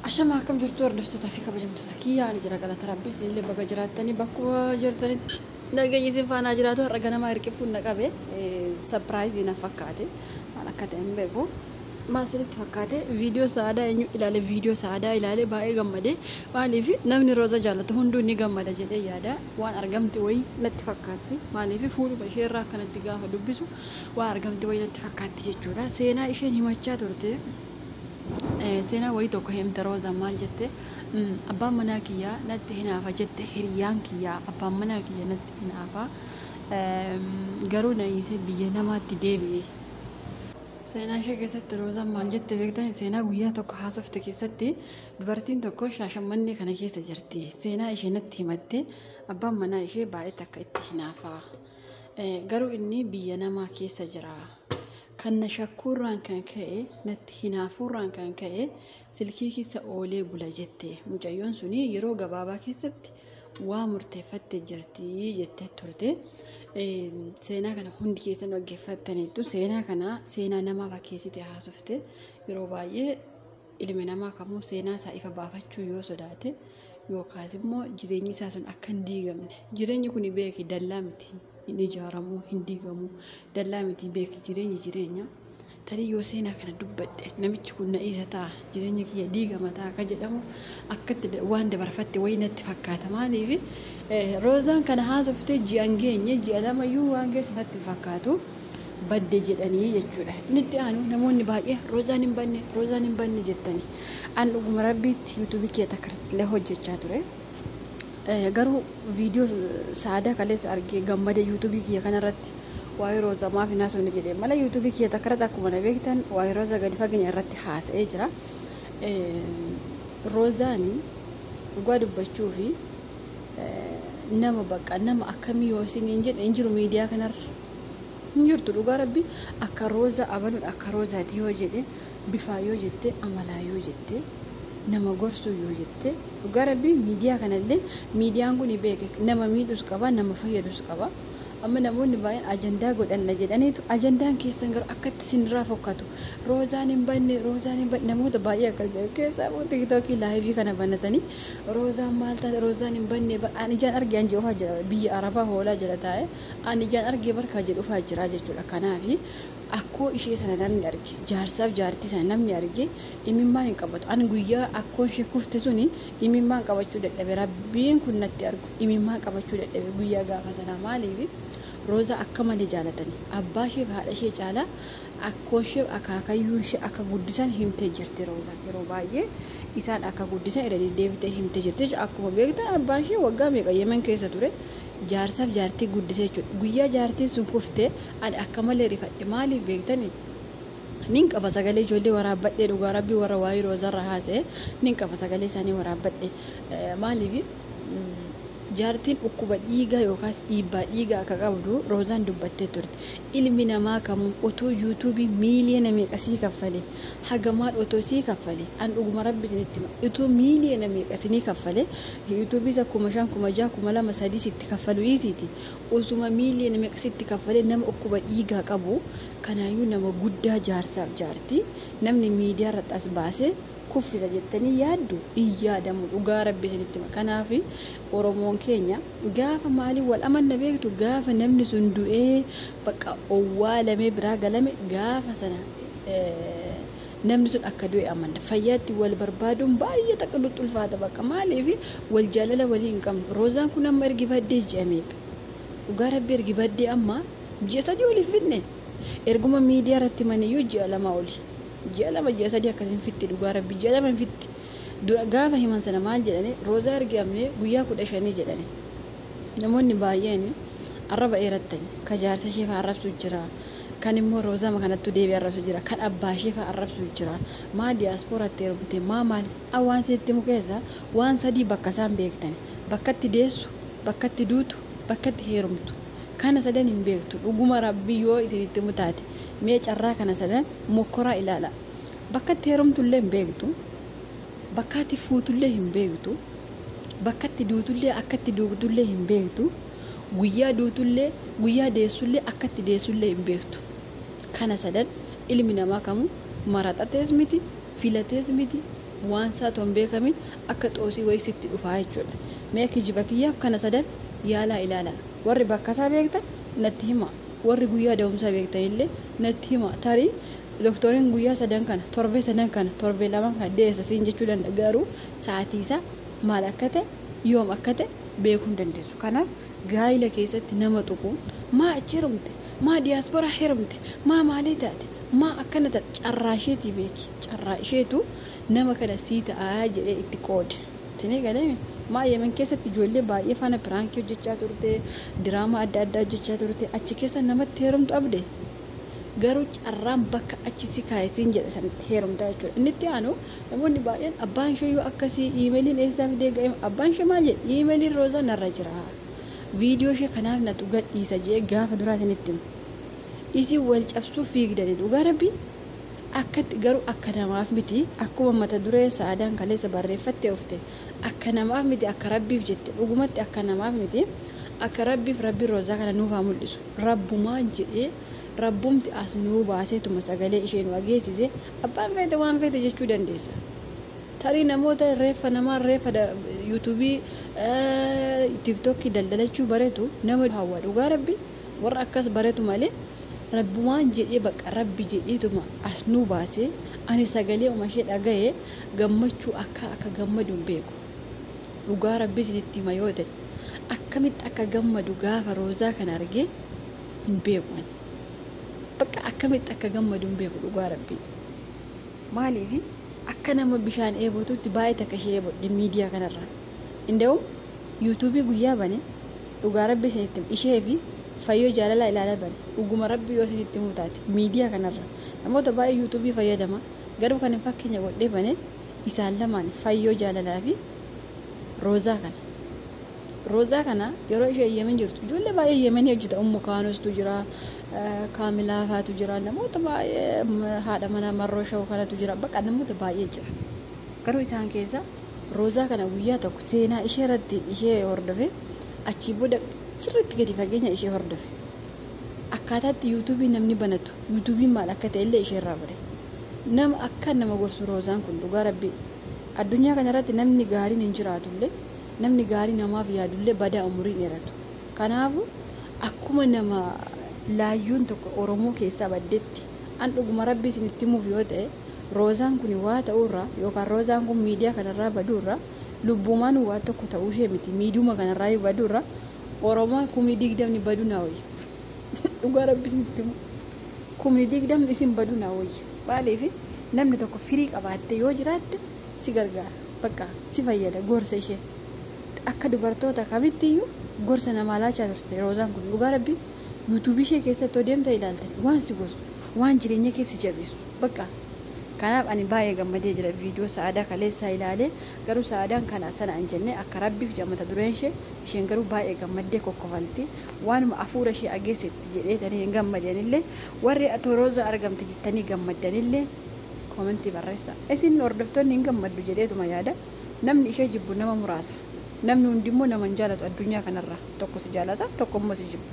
Ashama akkam jirtu hordoftoota fi kabajamtoota kiyya ani jira galata rabbii isinillee baga jiraattanii bakkuma jirtanitti nageenyi isin faanaa jiraatu har'a ganamaa hirqifuun na qabe sapiraayizii na fakkaate maal akka ta'e hin beeku maal isinitti fakkaate viidiyoo sa'aadaa eenyu ilaale viidiyoo sa'aadaa ilaale baay'ee gammade maaliif namni rooza jaallatu hunduu ni gammada jedhee yaada waan argamti wayii natti fakkaatti maaliif fuudhuma ishee irraa akkanatti gaafa dubbisu waan argamti wayii natti fakkaatti jechuudha seenaa isheen himachaa turte Eh, seenaa wayii tokko himte Roozaan maal jette? Mm, abbaan manaa kiyyaa natti hinaafa jette hiriyaan kiyyaa abbaan manaa kiyya natti hinaafa Eem, garuu na hiisee biyya namaatti deebi'e. Seenaa ishee keessatti Roozaan maal jette beektan? Seenaa guyyaa tokko haasofte keessatti dubartiin tokko shaashammannee kana keessa jirti. Seenaa ishee natti himatte abbaan manaa ishee baay'ee takka itti hinaafa. Eh, garuu inni biyya namaa keessa jira. Kan na shakkuurraan kan ka'e, natti hinaafuurraan kan ka'e silkii keessa oolee bula jette. Mucayyoon sun yeroo gabaabaa keessatti waa murteeffatte jirti jettee turte. Seenaa kana hundi keessan dhaggeeffattaniittu. Seenaa kana seenaa namaa fakkeessite haasofte. Yeroo baay'ee Ilmi namaa kamuu seenaa isaa ifa baafachuu yoo sodaate yookaas immoo jireenyi isaa sun akka hin diigamne jireenyi kun beeki dallaa miti hin ijaaramu hin diigamu dallaa miti beeki jireenyi jireenya tarii yoo seenaa kana dubbadhe namichi kun na dhiisa ta'a jireenya kiyya diigama ta'a akka jedhamu akkatti waan dabarfatte wayii natti fakkaata maaliif roozaan kana haasoftee ji'an geenye ji'a lamayyuu waan keessa natti fakkaatu. badde jedhanii jechuudha. Inni itti aanu namoonni baay'ee roozaan hin banne roozaan hin banne jettani. An dhuguma rabbiitti yuutuubii kee takka irrattillee hojjechaa ture. Eh, Garuu viidiyoo saadaa kaleessa argee gammade yuutuubii kiyya kanarratti waa'ee roozaa maaf hin haasofne jedhee malee yuutuubii kiyya takka irratti akkuma na beektan waa'ee roozaa gadi fageenya irratti haasa'ee jira. Eh, Roozaani dhugaa dubbachuu fi nama bakka nama akkamii yoo isiniin jedhe hin jiru miidiyaa kanarra hin jirtu dhugaa rabbi akka rooza abaluun akka roozaati yoo jedhe bifaa yoo jette amalaa yoo jette nama gorsuu yoo jette dhugaa rabbi miidiyaa kanallee miidiyaan kun beeke nama miidhus qaba nama fayyadus qaba amma namoonni baay'een ajandaa godhanna jedhaniitu ajandaan keessan garuu akkatti isinirraa fokkatu roozaan hin banne roozaan hin banne namoota baay'ee akkas jedhu keessaa immoo tiktookii laayivii kana banatanii Roozaan maal taate roozaan hin banne bar an ijaan arge an jedhufaa jira biyya arabaa hoolaa jala taa'e an ijaan arge bar kaa jedhufaa jira jechuudha kanaafi akkoo ishee sana namni arge jaarsaaf jaartii sana namni arge imimmaan hin qabatu an guyyaa akkoon ishee kufte suni imimmaan qabachuu dadhabe rabbiin kun natti argu imimmaan qabachuu dadhabe guyyaa gaafa sanaa maaliifi roozaa akka malee jaalatani abbaa isheef haadha ishee caalaa Akkooshee akaakayyuunshee akka guddisan himtee jirti Roozaan. Yeroo baay'ee isaan akka guddisan irra deddeebitee himtee jirti jechuudha. Akkuma beektan abbaanshee waggaa meeqa Yemen keessa ture jaarsaaf jaartii guddisee jechuudha. Guyyaa jaartiin sun kufte ani akka malee rifadhe. Maaliif beektanii? Nin qafa sagalee ijoollee waraabbadhee dhugaa rabbii warra waa'ee Roozarra haasa'e nin qafa sagalee isaanii waraabbadhe. Maaliif jaartiin dhukkuba dhiigaa yookaas dhiibbaa dhiigaa akka qabdu Roozaan dubbattee turte. ilmi namaa kamuu otuu youtube miiliyoona meeqa sii kaffale hagamaan otoo sii kaffale an dhuguma rabbi isinitti hima utuu miiliyoona meeqa isinii kaffale youtube isa kuma shan kuma jaha kuma lama sadii sitti kaffalu dhiisiiti osuma miiliyoona meeqa sitti kaffale nama dhukkuba dhiigaa qabu kanaayyuu nama guddaa jaarsaaf jaartii namni miidiyaa irratti as baasee kuffisa jettanii yaaddu hin yaadamu dhugaa rabbi isinitti hima kanaafi Oromoon keenya gaafa maaliin wal amanna beektu gaafa namni sun du'ee bakka owwaalamee biraa galame gaafa sana namni sun akka du'e amanna fayyaatti wal barbaaduun baay'ee takka nutti ulfaata bakka maaliif wal jaalala walii hin qabnu roozaan kun amma ergi baddee ji'a meeqa dhugaa rabbi ergi baddee amma ji'a sadii oliif fidne erguma miidiyaa irratti maniyyuu ji'a lama oli ji'a lama ji'a sadii akkasiin fitti dhugaa rabbi ji'a lama hin fitti dura gaafa himan sana maal jedhani roozaa ergi amne guyyaa kudha shanii jedhani namoonni baay'eeni arraba eerattani ka jaarsa ishee faa arrabsuu jira kan immoo roozama kanattu deebi arrabsu jira kan abbaa ishee faa arrabsuu jira maa diyaaspooratti heerumte maa maal a waan sitti himu keessa waan sadii bakka isaan beektani bakkatti deessu bakkatti duutu bakkatti heerumtu kana sadan hin beektu dhuguma rabbii yoo isinitti himu taate mee carraa kana sadan mokkoraa ilaala Bakka itti heerumtullee hin beektu, bakka ati fuutullee hin beektu, bakka itti duutullee akka itti duutullee hin beektu, guyyaa duutullee guyyaa deessullee akka itti deessullee hin beektu. Kana sadan ilmi namaa kamuu maraxatees miti, filatees miti, waan isaa otoo hin beekamin akka xoosii wayii sitti dhufaa jechuudha. Mee kijiba kiyyaaf kana sadan yaalaa ilaala. Warri bakka isaa beektan natti himaa. Warri guyyaa da'umsaa beektanillee natti himaa. Tarii Doktoriin guyyaa sadan kana, torbee sadan kana, torbee lamaan kana deessa siin jechuu danda'a garuu sa'atiisaa maal akka ta'e yoom akka ta'e beekuu hin dandeessu. Kanaaf gaa'ila keessatti nama tuquun maa achi herumte, maa diyaasporaa herumte, maa maalii taate, maa akkana taate carraa isheetii beeki. Carraa isheetu nama kana sii ta'a jedhee itti qoode. Isinii galeemi? Maa Yemen keessatti ijoollee baay'ee faana piraankii hojjechaa turte, diraamaa adda addaa hojjechaa turte achi keessa namatti herumtu abde? Garuu carraan bakka achi si kaa'e siin jedhe sanitti heerumta jechuudha. Inni itti aanu namoonni baay'een abbaan ishee yoo akkasii iimeeliin eessaa fidee ga'e abbaan ishee maal jedhe iimeeliin roozaa narra jira. Viidiyoo ishee kanaaf natu gadhiisa jee gaafa duraa isinitti hima. Isin wal cabsuu fiigdanii dhugaa rabbii akkatti garuu akka namaaf miti akkuma mata duree saadaan kaleessa barreeffattee ofte akka namaaf miti akka rabbiif jette dhugumatti akka namaaf miti akka rabbiif rabbi roozaa kana nuuf haa mul'isu. Rabbumaan jedhee, Rabbumti as nu baaseetuma sagalee ishee nu dhageessise, abbaan feete waan feete jechuu dandeessa. Tarii namoota reeffa namaa reeffa YouTube, TikTok daldalachuu baretu nama hawwa dhugaa Rabbii warra akkas baretu malee Rabbumaan jedhee baqqa Rabbi jedheetuma as nu baase ani sagaleeuma ishee dhagayee gammachuu akkaa akka gammadu hin beeku. Dhugaa rabbii isinitti hima yoo ta'e akkamitti akka gammadu gaafa roozaa kana argee hin beeku ani. Bakka akkamitti akka gammadu hin beeku dhugaa rabbii. Maaliif akka nama bishaan eebotuutti baay'ee takka ishee eebodhe miidiyaa kanarraa. Inda'uun yuutuubii guyyaa bane dhugaa rabbii isinitti hima ishee fi fayyoo jaalalaa ilaala bane dhuguma rabbii yoo isinitti himuu taate miidiyaa kanarraa. Namoota baay'ee yuutuubii fayyadama garuu kan hin fakkeenya godhee bane Isaan lamaan Fayyoo Jaalalaa fi Roozaa kana. Roozaa kana yeroo isheen Yemen jirtu ijoollee baay'ee Yemenii hojjeta Ummu Kaanostuu jira, Kaamilaa faatu jira, namoota baay'ee haadha manaa Marroo Shaw kanatu jira, bakka namoota baay'ee jira. Garuu isaan keessa Roozaa kana guyyaa tokko seenaa ishee irratti ishee hordofe achii booda sirriitti gadi fageenya ishee hordofe. Akkaataa itti YouTube namni banatu, YouTube maal akka ta'e illee ishee irraa bare. Nama akkaan nama gorsu Roozaan kun dhugaa Rabbii. Addunyaa kana irratti namni gaariin hin jiraatu illee, namni gaarii namaaf yaadu illee badaa umurii hin dheeratu. Kanaafu, akkuma nama laayyuun tokko Oromoo keessaa baddetti, an dhuguma Rabbii isinitti himuuf yoo ta'e, Roozaan kuni waa ta'uu irraa, yookaan Roozaan kun miidiyaa kana irraa baduu irraa, lubbuumaanuu waa tokko ta'uu ishee miti, miidiyuma kana irraa iyyuu baduu irraa, oromaa kumii digdamni badu naa wayya dhugaa rabbi isinitti himu kumii digdamni isin badu naa wayya maaliif namni tokko firii qabaatte yoo jiraatte si gargaara bakka si fayyada gorsa ishee akka dubartoota kamittiyyuu gorsa namaa laachaa turte roozaan kun dhugaa rabbi yuutuubii ishee keessatti odeemta ilaaltan waan si gorsu waan jireenya keef si jabeessu bakka kanaaf ani baay'ee gammadee jira viidiyoo sa'aadaa kaleessaa ilaalee garuu sa'aadaan kana sana hin jenne akka rabbiif jaamata dureen ishee isheen garuu baay'ee gammaddee kokkofalti waanuma afuura ishee ageessetti jedheetanii hin gammadanillee warri toorooza argamte jettanii gammaddanillee koomentii barreessa isin hordoftoonni hin gammaddu jedheetuma yaada namni ishee jibbu nama muraasa namni hundimmoo nama hin jaalatu addunyaa kanarra tokko si jaalata tokko immoo si jibba.